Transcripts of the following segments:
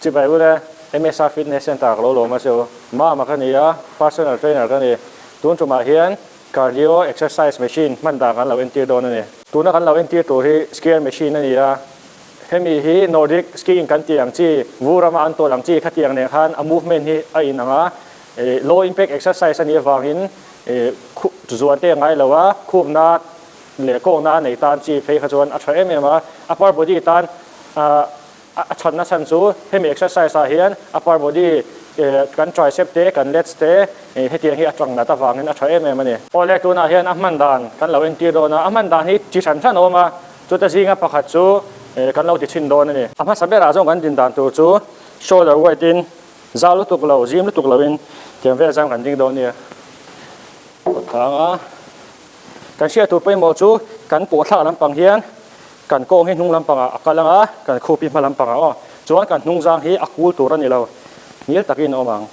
Chibah hun e, MSR Fitness Centre ka lo lawm a seo, Mama ka ni a, personal trainer ka ni. Tun tumah hian cardio exercise machine hman dan kan lo entir dawn a ni. Tuna kan lo entir tur hi skier machine a ni a, hemi hi Nordic skiing kan tih ang chi, vu rama an tawlh ang chi kha tih ang nen khan a movement hi a in ang a, low impact exercise a nih avangin zuan te a ngai lo a, khumna leh kawkna a nei tan chi phei kha chuan a tha em em a, upper body tan A chhan na chhan chu hemi exercise ah hian upper body kan tricep te kan lats te hetiang hi a tang nat avangin a tha em em a ni. Aw le, tunah hian a hman dan kan lo entir dawn a, a hman dan hi chi hran hran a awm a, chuta zinga pakhat chu kan lo ti chhin dawn a ni. A hmasa berah zawng kan din dan tur chu shoulder wide in zau lutuk lo, zim lutuk lo in tiang vel zam kan ding dawn a ni. Kawtthanga kan hriat tur pawimawh chu kan pawhthlak lampang hian Kan kawng hi hnung lampangah a kal ang a, kan khup hi hma lampangah aw. Chuan kan hnungzang hi a kul tur a ni lo. Ngil takin a awm ang.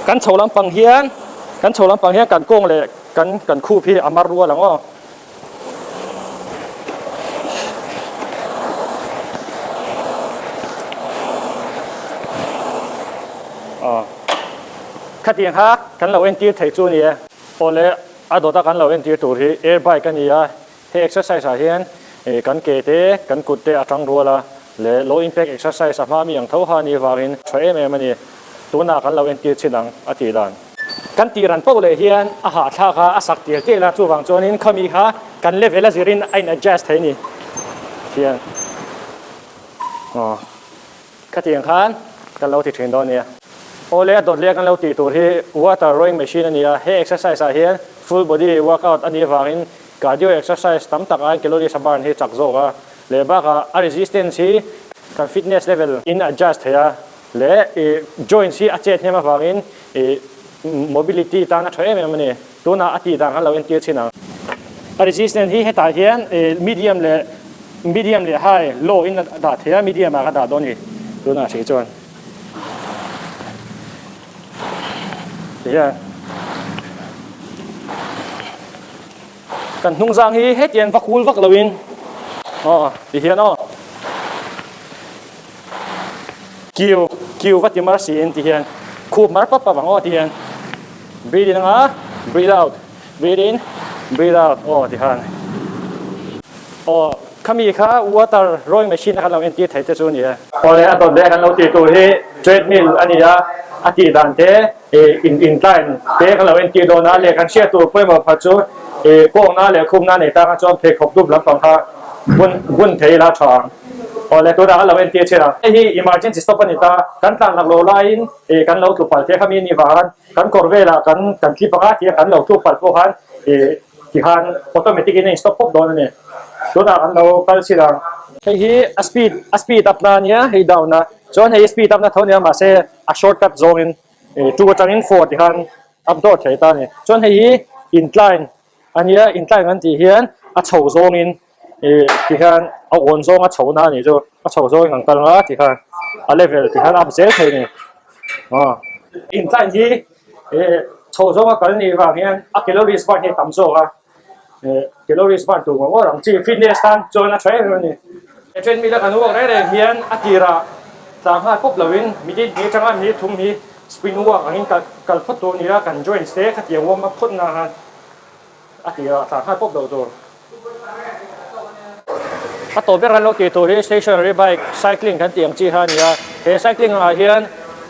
Kan chho lampang hian, kan chho lampang hian kan kawng leh kan kan khup hi a mar rual ang aw. Khatiang kha kan lo entir thei chu a ni e. Awle a dawta kan lo entir tur hi air bike a ni a, he exercise ah hian kan ke te kan kut te a tang rual a, leh low impact exercise a hma mi ang tho han hi vangin tha em em a ni. Tunah kan lo entir chhin ang a tih dan. Kan tih ran poh leh hian a hahthlak kha a sak tel tel a, chuvang chuanin khami kha kan level a zir in a in adjust theih a ni. Fian aw khatiang khan kan lo ti thin dawn a nia. Aw leh a dawt leh a kan lo tih tur hi water rowing machine a nia, he exercise ah hian full body workout a nih avangin cardio exercise tam tak ain calories a burn hi chak zawk a, lehbak ah a resistance hi kan fitness level in a adjust theih a. leh joints hi a chet hnem avangin mobility tan a tha em em a ni. Tunah a tih dan han lo entir chin ang. A resistance hi hetah hian medium leh medium leh high, low in a dah theih a, medium ah ka dah dawn a ni. Tunah a hri chuan tih hian. Kan hnungzang hi hetian va kul vak loin aw ti hian aw kiu kiu va ti mar siin ti hian khup mar pap pap ang aw ti hian breathe in anga breathe out breathe in breathe out aw ti khan aw khami kha water rowing machine a kan lo entir thei te chu a ni e. Awle a tawt ve a kan lo ti tur hi treadmill a ni a a tih dan te I in in tla in te ka lo en tih dawn a leh kan hriat tur pawimawh pakhat chu i kawk na leh khum na nei ta kha chuan pheikhawk dup lampang kha bun bun thei ila tha ang aw leh tunah ka lo en tir chhin a hei hi emergency stop a ni ta kan tlan rak lo lai in i kan lo tlu pal theih kha mi ni vang an kan kawr velah kan kan tli panga thia kan lo tlu pal pawh khan i tihan automatic in a in stop pawp dawn a ni tunah kan lo kal chhin ang. Hei hi a speed a speed up na a nia hei down a chuan hei speed up na tho a nia mahse. a short cut zawngin ih two atangin four tih khan a dawt theih ta a ni. Chuan hei hi intline a nia, intline kan tih hian a chho zawngin ih ti hian a awn zawng a chhona a nih chu, a chho zawngin kan kal a ti khan a level tih khan a up zel thei a ni aw. Incline hi ih chho zawnga kal nih vang hian a calories bar hi a tam zawk a. calories burn tur ngawh ngawh ang chi fitness tan chuan a tha em em a ni a treadmill a kan walk reng reng hian a tirah tlang nghal pawp lovin mitin hi atanga mi thum hi sprint walk angin kal kal phawt tur a ni a kan joints te khatiang awm a phawt na han a tirah tlang nghal pawp lo tur a tawp ber han lo ti tur hi stationary bike cycling kan tih ang chi kha a ni a he cycling ah hian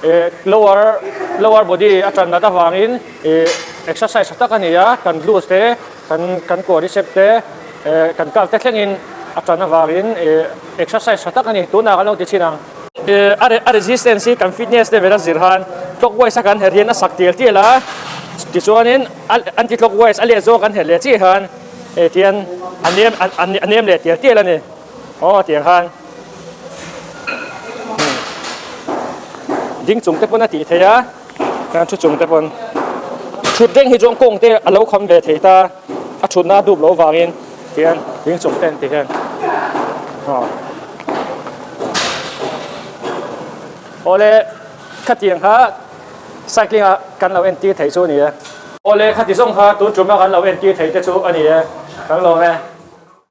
eh lower lower body a ṭan nat avangin Ih exercise tha tak a ni a, kan blues te, kan kan quadricep te, eh kan calf te thlengin a tan avangin ih exercise tha tak a ni, tunah kan lo ti chin ang. Ih a a resistance hi kan fitness level a zir han clockwise a kan herh hian a sak tial tial a, tichuanin a anti clockwise a leh zawk a kan herh leh chiah hian eh tihian a nem a a nem leh tial tial a ni. Aw tiang khan ding chungte pawn a tih theih a, heng thu chungte pawn thut reng hi chuan kawngte a lo kham ve thei ta, a thutna a dup loh vangin tihian ding chungte an ti hian aw aw le khatiang kha cycling a kan lo entir thei chu a ni e. Aw le khati zawng kha tun ṭum a kan lo entir thei te chu a ni e, kan lawm e.